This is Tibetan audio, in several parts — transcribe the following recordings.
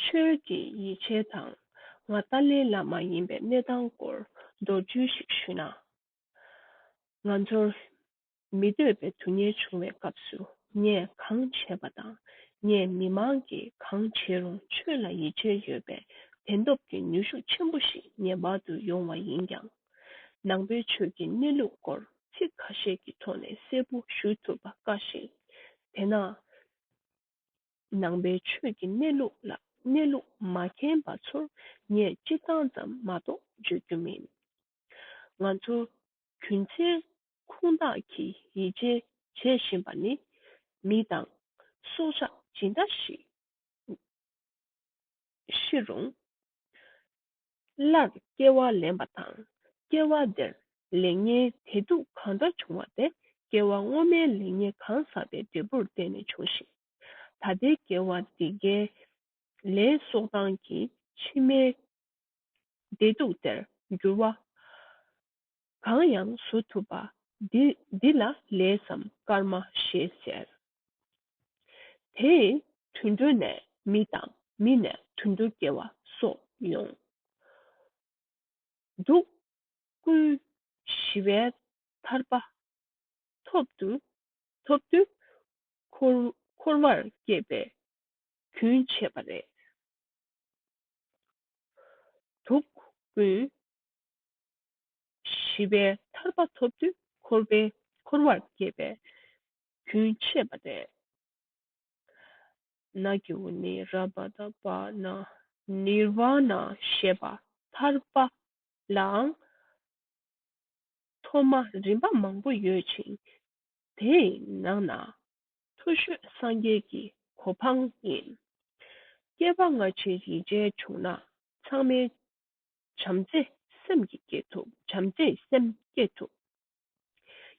ཆོས་ཀྱི་ཡིད་ཆེས་དང་ང་ཏཱ་ལའི་བླ་མ་ཡིན་པའི་གནས་སྟངས་སྐོར་མདོར་བསྡུས་ཤིག་ཞུས་ན། ང་ཚོར་མི་འདོད་པའི་དུས་ཉེར་བྱུང་བའི་སྐབས་སུ་ངས་གང་བྱས་པ་དང་ངས་མི་མང་གིས་གང་བྱས་རུང་ཆོས་ལ་ཡིད་ཆེས་ཡོད་པའི་དད་སྟོབས་ཀྱི་ནུས་ཤུགས་ཆེན་པོ་ཞིག་ངེས་པར་དུ་ཡོང་བ་ཡིན་ཀྱང། ནང་པའི་ཆོས་ཀྱི་གནས་ལུགས་སྐོར་ཚིག་ཁ་ཤས་ཀྱི་ཐོག་ནས་གསལ་པོ་ཞུ་ཐུབ་པ་དཀའ་ཞིང། དེས་ན། ནང་པའི་ཆོས་ཀྱི་གནས་ལུགས་ལ་གནས་ལུགས་མ་མཁྱེན་པ་ཚོར་ངས་སྤྱིར་བཏང་ཙམ་མ་གཏོགས་བརྗོད་རྒྱུ་མིན། ང་ཚོ་རྒྱུ་མཚན་ཁུངས་དག་གིས་ཡིད་ཆེས་བྱེད་བཞིན་པ་ནི། མི་དང། སྲོག་ཆགས་ཇི་འདྲ་ཞིག་ཤི་རུང། སླར་སྐྱེ་བ་ལེན་པ་དང་སྐྱེ་བ་དེར་ལེགས་ཉེས་དད་སྡུག་གང་འདྲ་བྱུང་བ་དེ་སྐྱེ་བ་སྔོན་མའི་ལེགས་ཉེས་གང་བསགས་པའི་འབྲས་བུར་བརྟེན་ནས་བྱུང་ཞིང། ད་ལྟའི་སྐྱེ་བ་འདི་འགའི་ལས་གསོག་སྟངས་ཀྱིས་ཕྱི་མའི་བདེ་སྡུག་དེར་འགྱུར་བ། གང་ཡང་བཟོ་ཐུབ་པ་འདི་འདི་ལ་ལས་སམ་སྐར་མ་ཞེས་ཟེར། དེ་ཡི་དུད་འགྲོ་ནས་མི་དང་མི་ནས་དུད་འགྲོ་སྐྱེ་བ་སོགས་ཡོང། འབྲུག་སྐུའི་ཞི་བའི་ཐར་པ་ཐོབ་དུས་འཁོར་བར་སྐྱེས་པའི་རྒྱུན་ཆད་པ་རེད། དུག་སྐུའི་ཞི་བའི་ཐར་པ་ཐོབ་དུས་འཁོར་བའི་འཁོར་བར་སྐྱེས་པའི་རྒྱུན་ཆད་པ་སྟེ། ན་གྱི་བུ་ནི་རཱ་བ་ད་བ་ན་ནི་ར་བ་ན་ཞེས་པ་ཐར་པ་ལའང་ཐོག་མ་རིམ་པ་མང་པོ་ཡོད་ཅིང་དེའི་ནང་ན་མཐོ་ཤོས་སངས་རྒྱས་ཀྱི་གོ་འཕང་ཡིན། སྐྱེ་བ་སྔ་ཕྱིར་ཡིད་ཅན་བྱུང་ན་ཚང་མའི་བྱམས་བརྩེ་སེམས་ཀྱིས་བསྐྱེད་ཐུབ་བྱམས་བརྩེ་སེམས་བསྐྱེད་ཐུབ།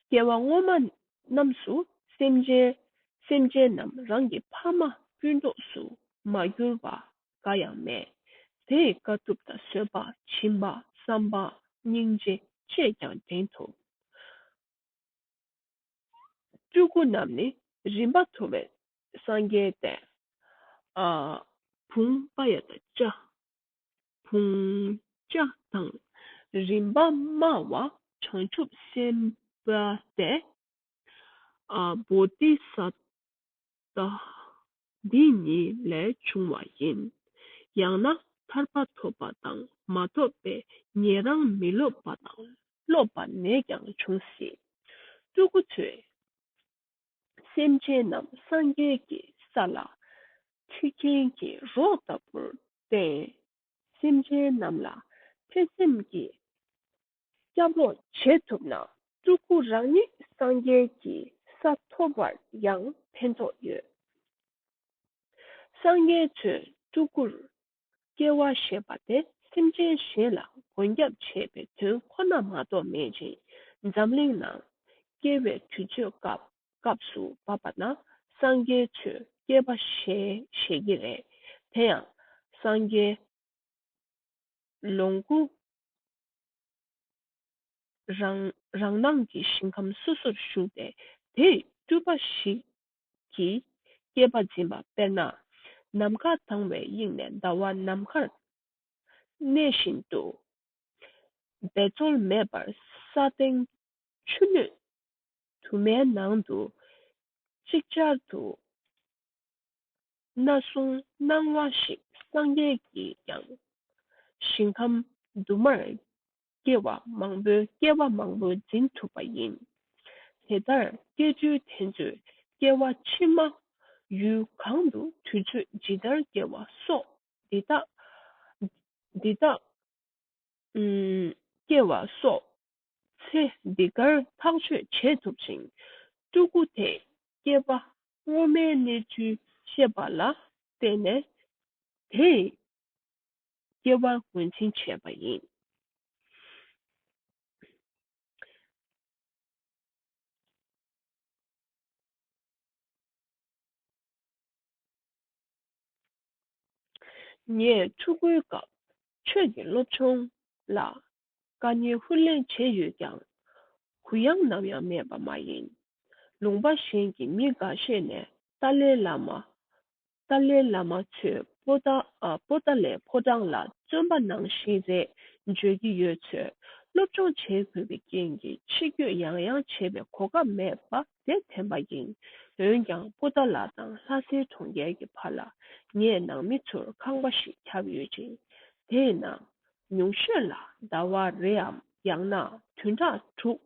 སྐྱེ་བ་སྔོན་མ་རྣམས་སུ་སེམས་ཅན་སེམས་ཅན་རྣམས་རང་གི་ཕ་མ་སྤུན་གྲོགས་སུ་མ་གྱུར་པ་འགའ་ཡང་མེད་དེ་དཀའ་ཐུབ་དང་བཟོད་པ་བྱིན་པ་བསམ་པ་སྙིང་རྗེ་བཅས་ཀྱང་འགྲེང་ཐུབ། སྤྲུལ་སྐུ་རྣམས་ནི་རིམ་པ་མཐོ་བའི་སངས་རྒྱས་ཏེ། བུམ་པ་ཡ་དང་བཅའ། བུང་བྱ་དང། རིམ་པ་སྨྲ་བ་བྱང་ཆུབ་སེམས་དཔའ་སྟེ། བོ་དྷི་ས་ཏྭ་འདི་ཉིད་ལས་བྱུང་བ་ཡིན། ཡང་ན་ཐར་པ་ཐོབ་པ་དང་མ་ཐོབ་པས་ཉན་རང་མི་སློབ་པ་དང་སློབ་པ་ནས་ཀྱང་འབྱུང་སྲིད། སྤྲུལ་སྐུ་ཚོས། སེམས་ཅན་རྣམས་སངས་རྒྱས་ཀྱི་ས་ལ། ཆུ་སྐྱེས་ཀྱི་རོགས་ལྟ་བུར་བསྟེན། སེམས་ཅན་རྣམས་ལ་ཐེ་ཚེམ་གྱིས་སྐྱབས་འོག་བྱེད་ཐུབ་ན། སྤྲུལ་སྐུ་རང་ཉིད་སངས་རྒྱས་ཀྱི་ས་ཐོབ་པར་ཡང་ཕན་ཐོགས་ཡོད། སངས་རྒྱས་ཚོས་སྤྲུལ་སྐུར་སྐྱེ་བ་ཞེས་པ་དེ་སེམས་ཅན་གཞན་ལ་མགོན་སྐྱབས་བྱེད་པའི་དོན་ཁོ་ན་མ་གཏོགས་མེད་ཅིང་འཛམ་གླིང་ན་སྐྱེ་བའི་དུས་ཚོད་སྐབས་སུ་བབ་པ་ན་སངས་རྒྱས་ཆོས་སྐྱེས་པ་ཞེས་བཞད་ཀྱི་རེད། དེ་ཡང་སངས་རྒྱས། ལོངས་སྐུ། རང་སྣང་གི་ཞིང་ཁམས་སོ་སོར་བཞུགས་ཏེ་དེའི་སྤྲུལ་པ་ཞིག་གྱིས་བསྐྱེད་པ་འབྱིན་པ་དཔེར་ན་ནམ་མཁའ་དྭངས་བའི་དབྱིངས་ནས་ཟླ་བ་ནམ་མཁར་གནས་བཞིན་དུ། འབད་རྩོལ་མེད་པར་ས་སྟེང་ཆུ་སྣོད་དུ་མའི་ནང་དུ་ཅིག་ཅར་དུ་སྣ་བཟུང་སྣང་བ་ཞིག་སངས་རྒྱས་ཀྱིས་ཀྱང་ཞིང་ཁམས་དུ་མར་སྐྱེ་བ་མང་པོའི་སྐྱེ་བ་མང་པོ་འཛིན་ཐུབ་པ་ཡིན། དེ་ལྟར་སྐྱེ་རྒྱུའི་དེ་ཚོའི་སྐྱེ་བ་ཕྱི་མ། ཡུལ་གང་དུ་དུས་ཚོད་ཇི་ལྟར་སྐྱེ་བ་སོགས་འདི་དག། འདི་དག། སྐྱེ་བ་སོགས་ཚེ་འདི་གར་ཐག་གཅོད་བྱེད་ཐུབ་ཅིང། སྤྲུལ་སྐུ་དེས་སྐྱེ་བ་སྔོན་མའི་གནས་ཚུལ་ཤེས་པ་ལ་བརྟེན་ནས། དེས་སྐྱེ་བར་ངོས་འཛིན་བྱེད་པ་ཡིན། ངས་ཕྲུ་གུའི་སྐབས་ཆོས་ཀྱི་སློབ་ཆུང་ལ་དཀའ་ཉེན་ཧུར་ལེན་བྱས་ཡོད་ཀྱང་གུ་ཡངས་ནམ་ཡང་མེད་པ་མ་ཡིན། ལུང་པ་གཞན་གྱི་མི་འགའ་ཤས་ནས་ཏཱ་ལའི་བླ་མ་ཏཱ་ལའི་བླ་མ་ཚོས་པོ་ཏཱ་ལའི་ཕོ་བྲང་ལ་བརྩོན་པ་ནང་བཞིན་རེད་བརྗོད་ཀྱི་ཡོད་ཚོད་སློབ་སྦྱོང་བྱེད་དགོས་པའི་རྐྱེན་གྱིས་ཕྱི་སྐྱོད་ཡང་ཡང་བྱེད་པའི་གོ་སྐབས་མེད་པ་དེ་དྲན་པ་ཡིན། འོན་ཀྱང་པོ་ཏཱ་ལ་དང་ལྷ་སའི་གྲོང་ཁྱེར་གྱི་བར་ལ་ངས་ནང་མི་ཚོར་ཁང་པ་ཞིག་ཁྱབ་ཡོད་ཅིང། དེའི་ནང། ཉུང་ཤོས་ལ་ཟླ་བ་རེའམ་ཡང་ན་དུས་དྲག་དྲུག།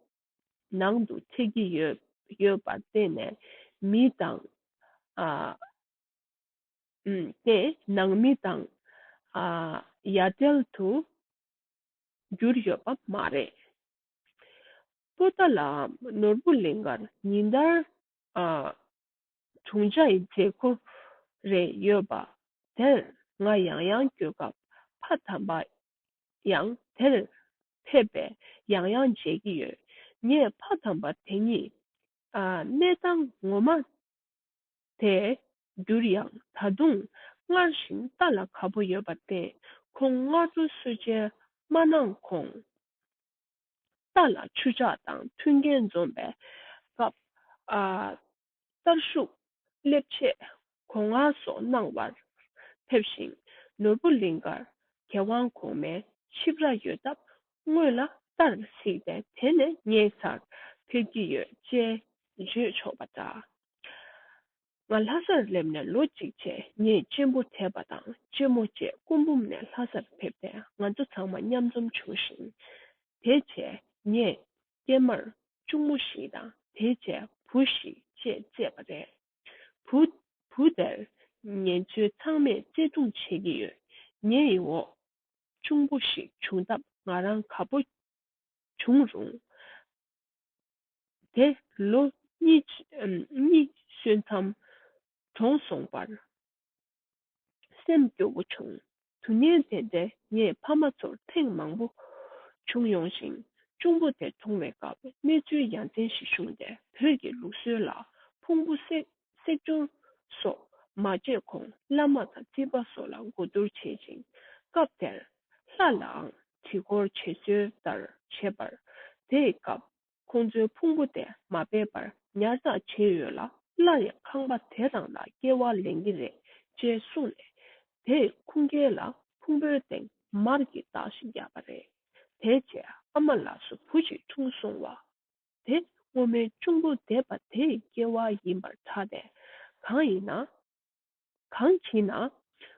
ནང་དུ་ཁྱེར་གྱི་ཡོད་ཡོད་པར་བརྟེན་ནས་མི་དང། ཏེ་ནང་མི་དང། ཡ་བྲལ་དུ་གྱུར་ཡོད་པ་མ་རེད། པོ་ཏཱ་ལའམ་ནོར་བུ་གླིང་གར་ཉིན་ལྟར་དྲུང་ཆེའི་མཛད་ཁུར་རེ་ཡོད་པ་དེར་ང་ཡང་ཡང་སྐྱོད་སྐབས་ཕ་དམ་པ་ཡང་དེར་ཕེབས་པས་ཡང་ཡང་མཇལ་གྱི་ཡོད། ངས་ཕ་དམ་པ་དེ་ཉིད། གནས་སྟངས་ངོ་མ་དེ་འགྱུར་ཡང་ད་དུང་སྔར་བཞིན་ལྟ་ལ་ག་པོ་ཡོད་པར་བརྟེན་ཁོང་སྔ་དྲོ་གསོལ་སྦྱིན་མ་གནང་གོང། རྟ་ལ་ཆུ་ཆག་དང་མཐུན་རྐྱེན་འཛོམས་པའི་སྐབས། གསར་བཞུགས་སླེབས་ཆེད་གོང་བསྔགས་སོགས་གནང་བར་ཕེབས་ཤིང་ནོར་བུ་གླིང་དཀར་རྒྱལ་དབང་གོང་མའི་ཆིབས་ར་ཡོད་སྟབས་དངོས་ལ་བལྟར་མི་སྲིད་པས་དེ་ནས་ངའི་སར་ཕེབས་ཀྱི་ཡོད་ཅེས་བརྗོད་ཆོག་པ་འདྲ། ང་ལྷ་སར་སླེབས་ནས་ལོ་གཅིག་ཆད་ངས་གཅེན་པོ་དད་པ་དང་གཅེན་མོ་བཅས་སྐུ་འབུམ་ནས་ལྷ་སར་ཕེབས་ཏེ་ང་ཚོ་ཚང་མ་མཉམ་འཛོམས་བྱུང་ཞིང། དེ་རྗེས་ངས་སྐྱེས་མར་གཅུང་མོ་བཞི་དང་དེའི་རྗེས་བུ་བཞི་བཅས་བཙས་པ་རེད། བུ། བུ་དེར་ངེད་ཚོའི་ཚང་མས་བརྩེ་དུང་བྱེད་ཀྱི་ཡོད། ངའི་ཡི་འོག་གཅུང་པོ་ཞིག་བྱུང་སྟབས་ང་རང་ག་པོ་བྱུང་རུང། དེ་ལོ་གཉིས་གཉིས་སོན་མཚམས་གྲོངས་སོང་བར་སེམས་སྐྱོ་བོ་བྱུང། དུས་ངན་དེ་འདྲའི་ངས་ཕ་མ་ཚོར་ཐེངས་མང་པོ་བྱུང་ཡོང་ཞིང། གཅུང་པོ་དེ་གྲོངས་བའི་སྐབས་གནས་ཚུལ་ཡ་མཚན་ཞིག་བྱུང་སྟེ་བོད་ཀྱི་ལུགས་སྲོལ་ལ་ཕུང་པོ་སྲེག་སྦྱོར་སོགས་མ་བྱས་གོང་བླ་མ་དང་རྩིས་པ་སོགས་ལ་གོ་བསྡུར་བྱེད་ཅིང། སྐབས་དེར་ལྷ་ལའང་དྲི་བསྐོར་བྱེད་སྲོལ་ལྟར་བྱེད་པར་དེའི་སྐབས་ཁོང་ཚོའི་ཕུང་པོ་དེ་མ་སྦས་པར་ཉར་ཚགས་བྱས་ཡོད་ལ། སླར་ཡང་ཁང་པ་དེ་རང་ལ་སྐྱེལ་བ་ལེན་གྱི་རེད་ཅེས་གསུངས་ནས། དེས་ཁུངས་སྐྱེལ་ལ་ཕུང་པོའི་སྟེང་མར་གྱི་རྟགས་ཤིག་བརྒྱབ་པ་རེད། དེ་རྗེས་ཨ་མ་ལགས་སུ་བུ་གཅིག་འཁྲུངས་སོང་བ། དེ་སྔོན་མའི་གཅུང་པོ་འདས་པ་དེའི་སྐྱེ་བ་ཡིན་པར་གྲགས་ཏེ། གང་ཡིན་ན། གང་གིས་ན།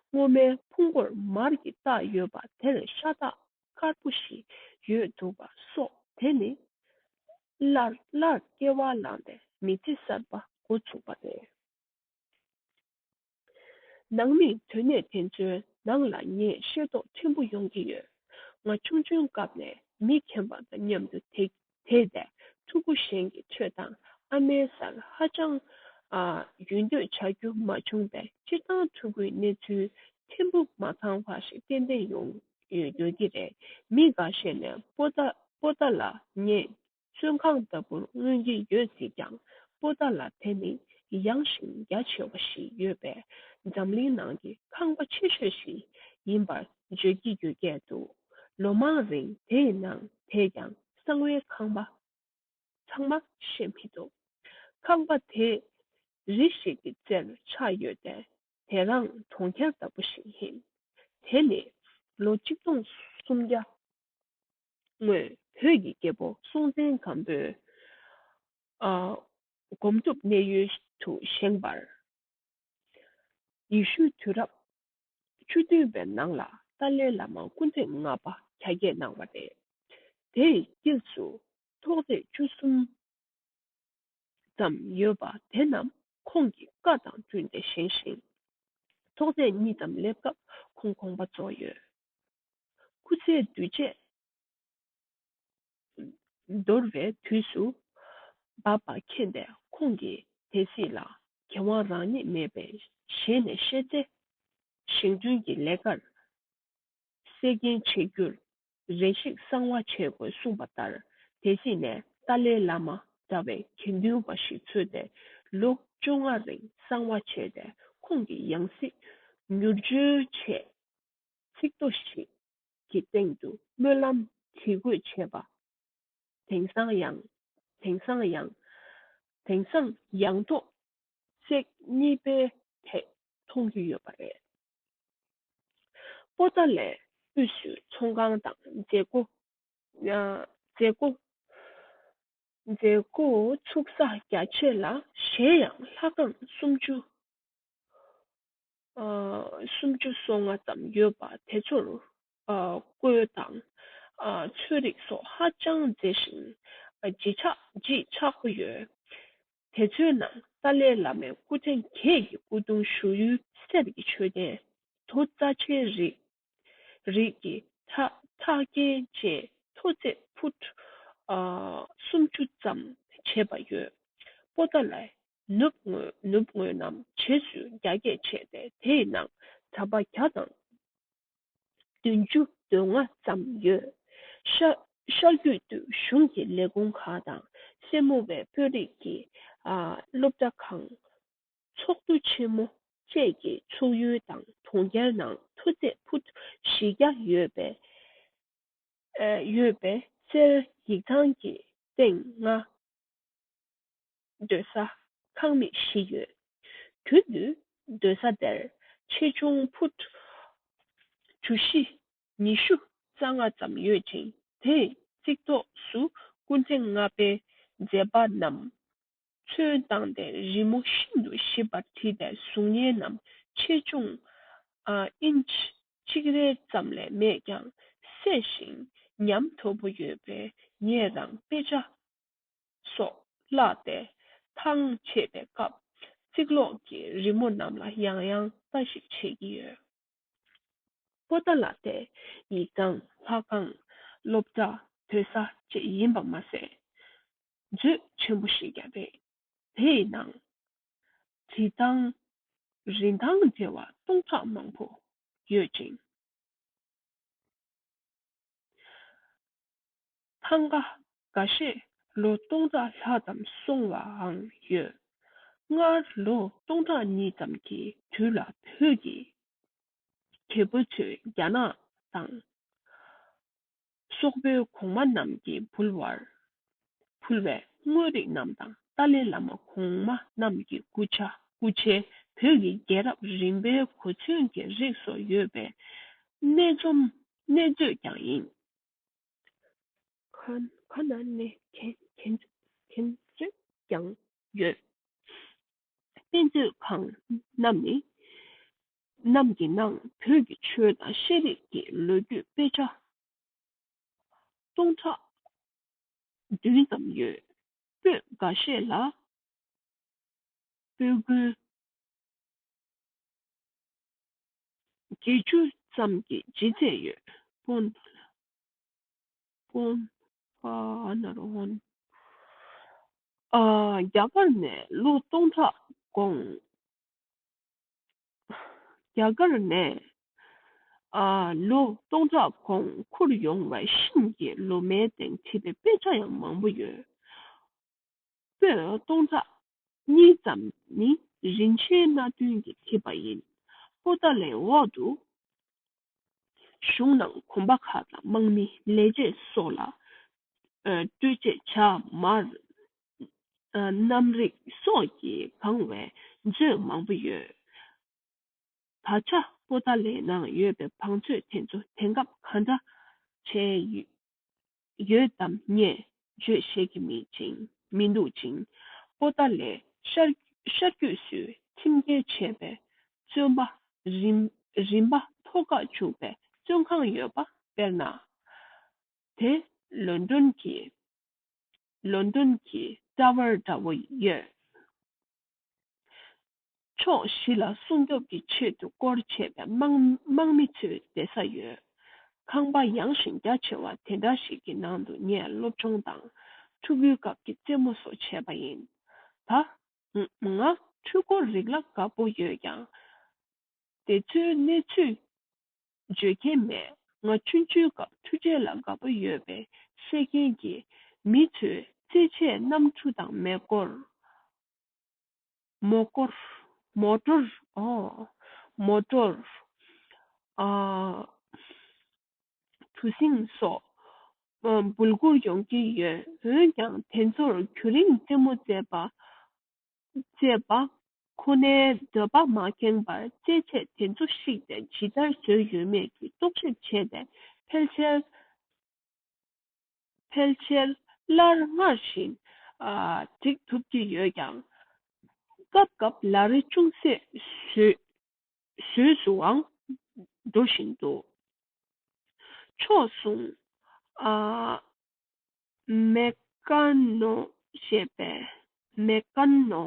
སྔོ་མའི་ཕུང་པོར་མར་གྱི་རྟགས་ཡོད་པ་དེར་ཤ་རྟགས་དཀར་པོ་ཞིག་ཡོད་འདུག་པ་སོགས་དེ་ནི། སླར་སླར་སྐྱེ་བ་བླངས་པའི་མི་ཚེ་གསར་པ་འགོ་ཚུགས་པ་རེད། ནང་མི་དོན་གནས་དེ་ཚོའི་ནང་ལ་ངས་ཤེས་རྟོགས་ཕྲན་བུ་ཡོང་གི་ཡོད། ང་ཆུང་ཆུང་སྐབས་ནས་མི་ཁྱེམ་པ་དང་མཉམ་དུ་དེ་དེས་པས་ཕྲུ་གུ་གཞན་གྱི་ཆོས་དང་ཨ་མའི་སར་ཧ་ཅང་ཡུལ་སྡོད་བྱ་རྒྱུ་མ་བྱུང་བས་སྤྱིར་བཏང་ཕྲུ་གུའི་གནས་ཚུལ་ཕྲན་བུ་མ་ཚང་བ་ཞིག་ཏན་ཏན་ཡོང་ཡོད་ཀྱི་རེད་མི་འགའ་ཤས་ནས་པོ་ཏ་པོ་ཏ་ལ་ངས་བཙོན་ཁང་ལྟ་བུར་མངོན་གྱི་ཡོད་སྲིད་ཀྱང་པོ་ཏ་ལ་དེ་ནི་ཡངས་ཤིང་རྒྱ་ཆེ་བ་ཞིག་ཡོད་པས་འཛམ་གླིང་ནང་གི་ཁང་པ་ཆེ་ཤོས་ཤིག་ཡིན་པར་བརྗོད་ཀྱི་ཡོད་སྐད་འདུག། ལོ་མང་རིང་དེ་ཡི་ནང་དེས་ཀྱང་གསང་བའི་ཁང་པ་ཚང་མ་ཤེས་མི་ཐུབ། ཁང་པ་དེ་རི་ཞིག་གི་རྩེར་ཆགས་ཡོད་ཏེ་དེ་རང་གྲོང་ཁྱེར་ལྟ་བུ་ཞིག་ཡིན། དེ་ནི་ལོ་གཅིག་སྟོང་སུམ་བརྒྱ་སྔོན་བོད་ཀྱི་རྒྱལ་པོ་སྲོང་བཙན་སྒམ་པོས་སྒོམ་སྒྲུབ་གནས་ཡུལ་དུ་བཞེངས་པར་ཡེ་ཤུའི་དུས་རབས་ཆུ་འདུས་པའི་ནང་ལ་ཏཱ་ལའི་བླ་མ་སྐུ་ཚེ་ལྔ་པ་གྱ་བརྒྱད་གནང་བ་རེད། དེའི་དཀྱིལ་དུ་ཐོག་རྩེག་བཅུ་གསུམ་ཙམ་ཡོད་པ་དེ་རྣམས་ཁོང་གི་བཀའ་དང་བསྟུན་ཏེ་བཞེངས་ཤིང། ཐོག་རྩེག་གཉིས་ཙམ་སླེབས་སྐབས་ཁོང་དགོངས་པ་རྫོགས་ཡོད། སྐུ་ཚེའི་དུས་བཅད། འདོར་བའི་དུས་སུ། འབར་བ་མཁྱེན་པའི་ཁོང་གིས་དེ་གཟིགས་ལ། དགེ་དབང་རང་ཉིད་མེད་པའི་ཞལ་ནས་བཤད། བརྩེ་ཞིང་བརྩོན་གྱི་ལས་ཀར་གསེར་རྒྱན་བྱེད་རྒྱུར། རེ་ཞིག་གསང་བ་བྱེད་དགོས་གསུངས་པ་ལྟར་དེ་གཟིགས་ནས་ཏཱ་ལའི་བླ་མ་འདྲ་བའི་དགེ་འདུན་པ་ཞིག་འཚོལ་ཏེ་ལོ་བཅོ་ལྔ་རིང་གསང་བ་བྱས་ཏེ་ཁོང་གི་ཡང་སྲིད་མྱུར་བཅོལ་ཆེད། ཚིག་ཐོ་ཞིག་ཀྱི་སྟེང་དུ་སྨོན་ལམ་བྲིས་བཀོད་བྱས་པ། དེང་སང་ཡང། དེང་སང་ཡང། དེང་སང་ཡང་ཐོག་བརྩེགས་གཉིས་པའི་ཐད་མཐོང་རྒྱུ་ཡོད་པ་རེད། པོ་ཏཱ་ལའི་དབུས་སུ་ཚོང་ཁང་དང་མཛད་སྒོ། མཛད་སྒོ། མཛད་སྒོ་ཚུགས་ས་རྒྱ་ཆེ་ལ་གཞན་ཡང་ལྷ་ཁང་སུམ་ཅུ། སུམ་ཅུ་སོ་ལྔ་ཙམ་ཡོད་པ་དེ་ཚོར་བརྐོས་དང་ཚོས་རིགས་སོགས་ཧ་ཅང་མཛེས་ཤིང་བརྗིད་ཆགས་བརྗིད་ཆགས་པོ་ཡོད། དེ་ཚོའི་ནང་ཏཱ་ལའི་བླ་མའི་སྐུ་ཕྲེང་གྱད་ཀྱི་སྐུ་གདུང་བཞུགས་ཡུལ་གསེར་གྱི་མཆོད་རྟེན་དུ་རྩ་ཆེའི་རིགས་རིགས་ཀྱི་ཁྲག་རྒྱན་བཅས་མཐོ་ཚད་ཕུ་སུམ་ཅུ་ཙམ་བྱས་པ་ཡོད། པོ་ཏཱ་ལའི་ནུབ་དངོས་ནུབ་དངོས་རྣམས་བྱེད་ཚུལ་རྒྱ་སྐྱེད་བྱས་ཏེ་དེ་ཡི་ནང་ད་པ་བརྒྱ་དང་བདུན་ཅུ་དོན་ལྔ་ཙམ་ཡོད། ཤར་རྒྱུད་དུ་གཞུང་གི་ལས་ཁུངས་ཁག་དང་སེར་མོ་བའི་དཔོན་རིགས་ཀྱི་སློབ་གྲྭ་ཁང། ཚོགས་འདུ་ཆེན་མོ་བཅས་ཀྱི་ཚུགས་ཡུལ་དང་གྲོང་ཁྱེར་ནང་མཐུ་རྩེ་ཕུ་བཞི་བརྒྱ་ཡོད་པའི་གསེར་ཡིག་ཚང་གི་སྟེང་ང་སྡོད་ས་ཁང་མིག་བཞི་ཡོད། དུས་བདུན་སྡོད་ས་དེར་ཆེ་ཆུང་ཕུད། གྲུ་བཞི་ཉི་ཤུ་རྩ་ལྔ་ཙམ་ཡོད་ཅིང་དེའི་གཙིགས་ཐོག་སུ་སྐུ་ཚེ་ལྔ་པའི་མཛད་པ་རྣམས་ཚུན་བཏང་སྟེ་རི་མོ་ཤིན་ཏུ་ཞིབ་པར་བྲིས་པའི་གཟུགས་བརྙན་རྣམས་ཆེ་ཆུང་ཨིན། གཅིག་རེ་ཙམ་ལས་མེད་ཀྱང་གསལ་ཞིང་ཉམས་དོད་པོ་ཡོད་པས་ངས་རང་དཔེ་ཆ་སོགས་བཀླགས་ཏེ་ཐང་ཆད་པའི་སྐབས་རྩིག་ལོགས་ཀྱི་རི་མོ་རྣམས་ལ་ཡང་ཡང་ལྟ་ཞིག་བྱེད་ཀྱི་ཡོད། པོ་ཏཱ་ལ་ཏའི་ཡིག་རྐང་ལྷ་ཁང་སློབ་གྲྭ་བོད་ས་བཅས་ཡིན་པ་མ་ཟད། མཛོད་ཆེན་པོ་ཞིག་ཀྱང་རེད། དེ་ཡི་ནང་བྲིས་ཐང་རིན་ཐང་བྲལ་བ་སྟོང་ཕྲག་མང་པོ་ཡོད་ཅིང། ཐང་ག་འགའ་ཤས་ལོ་སྟོང་ཕྲག་ལྷག་ཙམ་སོང་བའང་ཡོད། སྔར་ལོ་སྟོང་ཕྲག་གཉིས་ཙམ་གྱི་དུས་ལ་བོད་ཀྱི་རྒྱལ་པོ་ཚོས་རྒྱ་ནག་དང། སོག་པོའི་གོང་མ་རྣམས་ཀྱི་འབུལ་བར་ཕུལ་བའི་དངོས་རིགས་རྣམས་དང་ཏཱ་ལའི་བླ་མ་གོང་མ་རྣམས་ཀྱི་སྐུ་ཕྱྭ་སྐུ་ཕྱྭའི་བོད་ཀྱི་རྒྱལ་རབས་རིམ་པའི་གོ་མཚོན་གྱི་རིགས་སོགས་ཡོད་པའི་གནས་རྩོམ་གནས་མཛོད་ཀྱང་ཡིན། བར་ན་ནི་གན་རྩོད་ཀྱང་ཡོད། དཔེ་མཛོད་ཁང་རྣམས་ཀྱི་ནང་བོད་ཀྱི་ཆོས་དང་ཤེས་རིག་གི་ལོ་རྒྱུས་དཔེ་ཆ་སྟོང་ཕྲག་བདུན་ཙམ་ཡོད། པོད་འགའ་ཤས་ལ་པོད་དགུའི། བརྒྱད་ཅུ་ཙམ་གྱི་སྦྱིན་བསྩལ་ཡོད། སྤོན། སྤོན། ཨ་ནར་བྷོན། རྒྱ་གར་ནས་ལོ་སྟོང་ཕྲག་འགོང། རྒྱ་གར་ནས་ལོ་སྟོང་ཕྲག་འགོང་འཁུར་ཡོང་བའི་ཤིང་གི་ལོ་མའི་སྟེང་བྲིས་པའི་དཔེ་ཆ་ཡང་མང་པོ་ཡོད། ཚོས་སྟོང་ཕྲག་གཉིས་ཙམ་ནི་རིན་ཆེན་སྣ་བདུན་གྱིས་བྲིས་པ་ཡིན། པོ་ཏཱ་ལའི་འོག་ཏུ་བཞུགས་རྣམས་གོམ་པ་ཁ་དང་དམག་མི་ལས་བྱེད་སོགས་ལ་སྤྲོད་ཆེད་བྱ་དམར་གནམ་རིག་སོགས་ཀྱིས་གང་བའི་མཛོད་མང་པོ་ཡོད། ད་ཆ་པོ་ཏཱ་ལའི་ནང་ཡོད་པའི་བང་མཛོད་དེ་ཚོ་དེང་སྐབས་ག་འདྲ་བྱས་ཡོད་ཡོད་དམ་ངས་བརྗོད་ཤེས་ཀྱི་མེད་ཅིང་མི་འདུག་ཅིང། པོ་ཏཱ་ལའི་ཤར་རྒྱུད་སུས་ཁྲིམས་འགལ་བྱས་པའི་བཙོན་པ་རིམ་རིམ་པ་མཐོ་དཀའ་བཅུག་པའི་བཙོན་ཁང་ཡོད་པ་དཔེར་ན། དེ་ལོན་ཏོན་གྱི་ལོན་ཏོན་གྱི་ཀྲ་བར་འདྲ་བོ་ཡོད། ཕྱོགས་བཞི་ལ་སྲུང་སྐྱོབ་ཀྱི་ཆེད་དུ་སྐོར་བྱས་པའི་དམག་མི་ཚོའི་བསྡད་ས་ཡོད། ཁང་པ་ཡངས་ཤིང་རྒྱ་ཆེ་བ་དེ་འདྲ་ཞིག་གི་ནང་དུ་ངས་སློབ་སྦྱོང་དང་ཕྲུ་གུའི་སྐབས་ཀྱི་རྩེད་མོ་སོགས་བྱས་པ་ཡིན། ད་ང་འཕྲུལ་འཁོར་རིགས་ལ་དགའ་པོ་ཡོད་ཀྱང། དེ་ཚོའི་གནས་ཚུལ་བརྗོད་མཁན་མེད། ང་ཆུང་ཆུང་སྐབས་འཕྲུལ་ཆས་ལ་དགའ་པོ་ཡོད་པའི་བསད་མཁན་གྱི་མི་ཚོས་རྩེད་ཆས་རྣམས་ཆུ་དང་མེ་སྐོར། Motor། Motor། Motor། གྲུ་གཟིངས་སོགས་འབུལ་བསྐུར་ཡོང་གི་ཡོད། འོན་ཀྱང་དེ་ཚོར་གུ་རིང་རྩེད་མོ་རྩེད་པ་ཅེས་པ་ཁོ་ནའི་འདོད་པ་མ་ཁེངས་པར་རྩེད་ཆས་དེ་ཚོ་བཤིག་ཏེ་ཇི་ལྟར་བཟོས་ཡོད་མེད་ཀྱི་རྟོག་ཞིབ་བྱས་ཏེ་ཕལ་ཆེར་ཕལ་ཆེར་སླར་སྔར་བཞིན་བསྒྲིགས་ཐུབ་ཀྱི་ཡོད་ཀྱང། སྐབས་སྐབས་ལ་རེ་ཅུང་ཟད་བཟོས་བཟོས་སུའང་འགྲོ་བཞིན་འདུག་ཕྱོགས་མཚུངས། མེ་ཀ་ནོ་ཞེས་པས་མེ་ཀ་ནོ་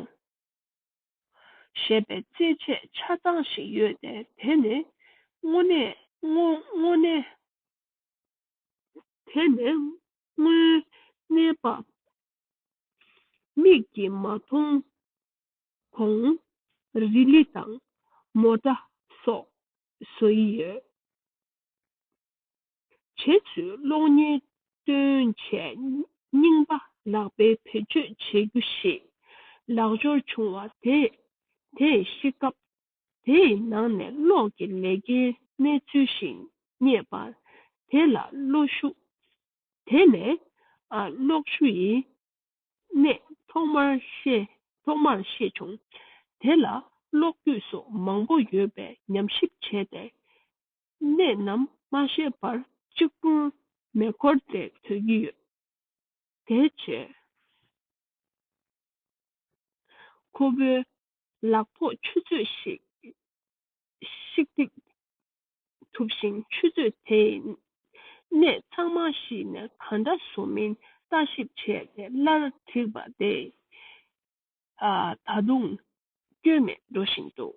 ཞེས་པའི་རྩེད་ཆས་ཆ་ཚང་ཞིག་ཡོད་དེ་དེ་ནི་དངོས་གནས་པ། མིག་གིས་མ་མཐོང་གོང་རི་ལི་དང་མོ་ཏྲ་སོགས་བཟོ་ཡི་ཡོད། བྱེད་ཚུལ་གློག་བརྙན་སྟོན་ཆས་རྙིང་པ་ལག་དཔེ་བེད་སྤྱོད་བྱེད་རྒྱུ་ཞིག་ལག་འབྱོར་བྱུང་བ་དེས་དེ་ཤེས་སྐབས་དེའི་ནང་ནས་གློག་གི་ལས་ཀའི་གནས་ཚུལ་ཞིག་རྙེད་པར་དེ་ལ་བློ་ཞུགས། དེ་ནས་གློག་ཆུ་ཡི་གནས་ཐོག་མར་ཤེས་ཐོག་མར་ཤེས་བྱུང། དེ་ལ་གློག་སྐུད་སོགས་མང་པོ་ཡོད་པའི་ཉམས་ཞིབ་བྱས་ཏེ་གནད་རྣམས་མ་ཤེས་པར་གཅིག་པུར་མེ་འཁོར་འདེད་འཚོལ་གྱི་ཡོད། དེ་རྗེས། ཁོ་བོའི་ལག་ཐོགས་ཆུ་ཚོད་ཞིག་རྩིག་ཐུབ་ཤིང་ཆུ་ཚོད་དེས་གནད་ཚང་མ་ཤིས་ནས་ག་འདྲ་བཟོ་མིན་ལྟ་ཞིབ་བྱས་ཏེ་སླར་བྲིས་པ་དེ་ད་དུང་སྐྱོན་མེད་འགྲོ་བཞིན་འདུག།